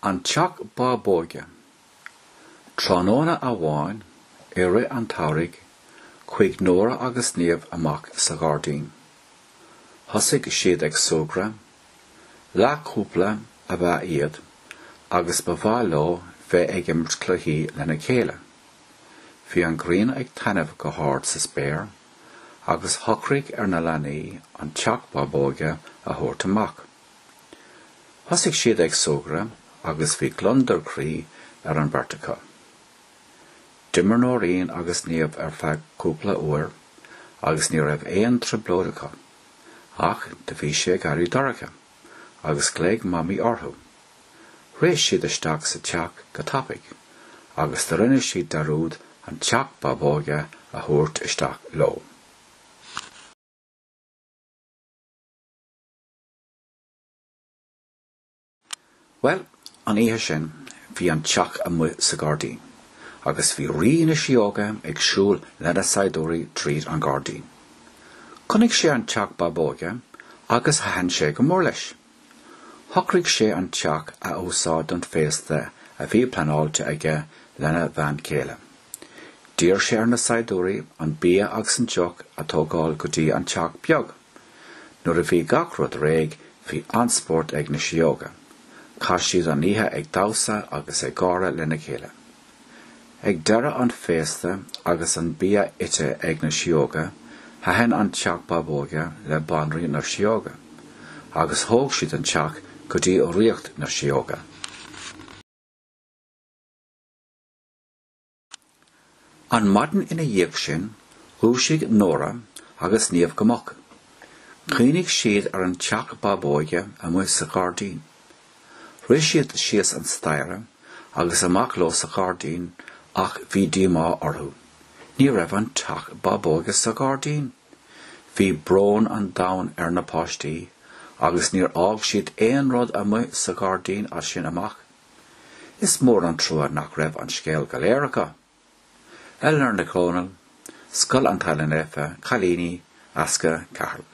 An Teach Bábóige. Tráthnóna amháin i rith an tsamhraidh chuaigh Nóra agus Niamh amach sa ghairdín. Thosaigh siad ag súgradh. Leathchúpla ab ea iad agus ba mhaith leo bheith ag imirt cluichí lena chéile. Bhí an ghrian ag taitneamh go hard sa spéir. agus shocraigh ar na leanaí an teach bábóige a thabhairt amach. Thosaigh siad ag súgradh agus bhí gliondar croí ar an bheirt acu. D'imir Nóirín agus Niamh ar feadh cúpla uair agus ní raibh aon trioblóid acu, ach do bhí sé ag éirí dorcha agus glaoigh Mamaí orthu. Rith siad isteach sa teach go tapaidh agus do rinne siad dearúd an teach bábóige a thabhairt isteach leo. Bhuel, an oíche sin bhí an teach amuigh sa gairdín agus bhí Rí na Sióga ag siúl lena saighdiúirí tríd an gairdín. Chonaic sé an teach bábóige agus thaitin sé go mór leis. Shocraigh sé an teach a úsáid don féasta a bhí pleanáilte aige lena bhean chéile. D'iarr sé ar na saighdiúirí an bia agus an deoch a tógáil go dtí an teach beag. Nuair a bhí gach rud réidh, bhí an-spórt ag na sióga. Chaith siad an oíche ag damhsa agus ag gáire lena chéile. Ag deireadh an féasta agus an bia ite ag na sióga, thaitin an teach bábóige le Banríon na Sióga, agus thóg siad an teach go dtí Ríocht na Sióga. An maidin ina dhiaidh sin, dhúisigh Nóra agus Niamh go moch. Chuimhnigh siad ar an teach bábóige amuigh sa gairdín. Rith siad síos an staighre agus amach leo sa ghairdín ach bhí díomá orthu. Ní raibh an teach bábóige sa gairdín! Bhí brón an domhain ar na páistí agus níor fhág siad aon rud amuigh sa gairdín as sin amach. Is mór an trua nach raibh an scéal go léir acu! Eleanor Nic Dhónaill, Scoil an Teaghlaigh Naofa, Cailíní, An Easca, Ceatharlach.